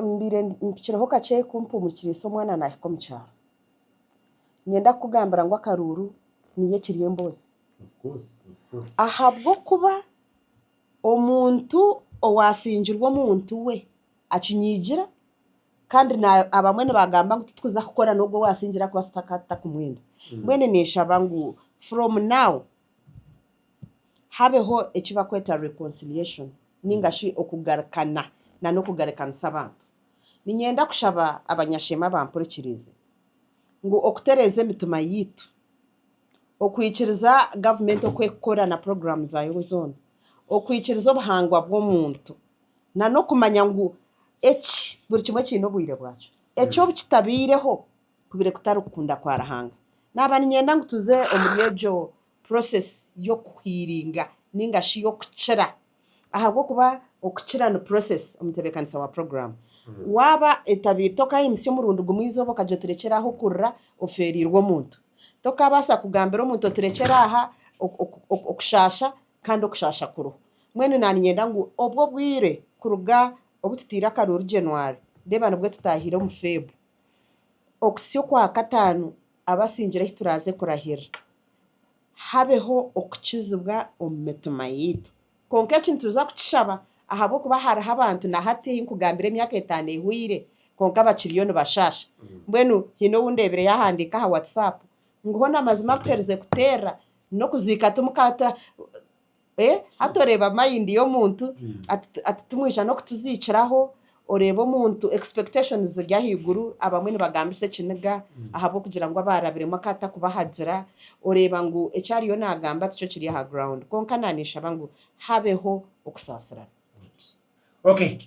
mbaire mpikirweho kakye ku mpumurize omwana nahika omu kyaro. Niinyenda kukugambira ngu akaruuru niyo ekiri emboozi. Ahabw'okuba omuntu owaasingirwe omuntu we akinyigira kandi abamwe nibagamba ngu titwija kukora n'ogwo owaasingire ahakuba tutakumwenda. Mbwenu ninshaba ngu from now. habeho eki barikweta reconciliation ninga shi okugarukana n'okugarukanisa abantu. Niinyenda kushaba abanyasheema abampurikiriize ngu okutereeza emitima yaitu, okwikiriza gavumenti oku erikukora na puroguraamu zaayo zoona, okwikiriza obuhangwa bw'omuntu, n'okumanya ngu eki buri kimwe kiine obwire bwakyo. Eki obu kitabaireho, kubaire kutari kukunda kwa Ruhanga. Naaba niinyenda ngu tuze omuri egyo process y'okuhiiringa nainga shi y'okukira ahabw'okuba okukira ni process, omutebeekanisa wa puroguraamu. Waaba etabaire, tokaayimutsya omurundi gumwe eizooba okagira oti rekyera aha okurira, ofeereirwe omuntu. Tokaabaasa kugambira omuntu oti rekyera aha okushaasha kandi okushaasha kuriho. Mbwenu naaniinyenda ngu obwo obwire kuruga obu tutaire akaruuru January, reeba nibwo tutaahire omu Feb. Okutsya okwa kataano, abasingire ahi turaaze kurahirira, habeho okukizibwa omu mitima yaitu. Kwonka eki nituza kukishaba ahabw'okuba hariho abantu na hati ei nkugambire emyaka etaano ehweire kwonka bakiriyo nibashaasha. Mbwenu haine ou ndeebire yaahandiika aha Whatsapp ngu, Hona mazima kuherize kuteerera n'okuziika Hati oreeba mind y'omuntu ati timwija n'okutuziikiraho, oreeba omuntu expectations ziri ahaiguru, abamwe nibagambisa ekiniga ahabw'okugira ngu abaarabiremu akaba atakubahagira, oreeba ngu eki ariyo naagamba tikyo kiri aha ground. Kwonka naaniinshaba ngu habeho okusaasirana. Okay.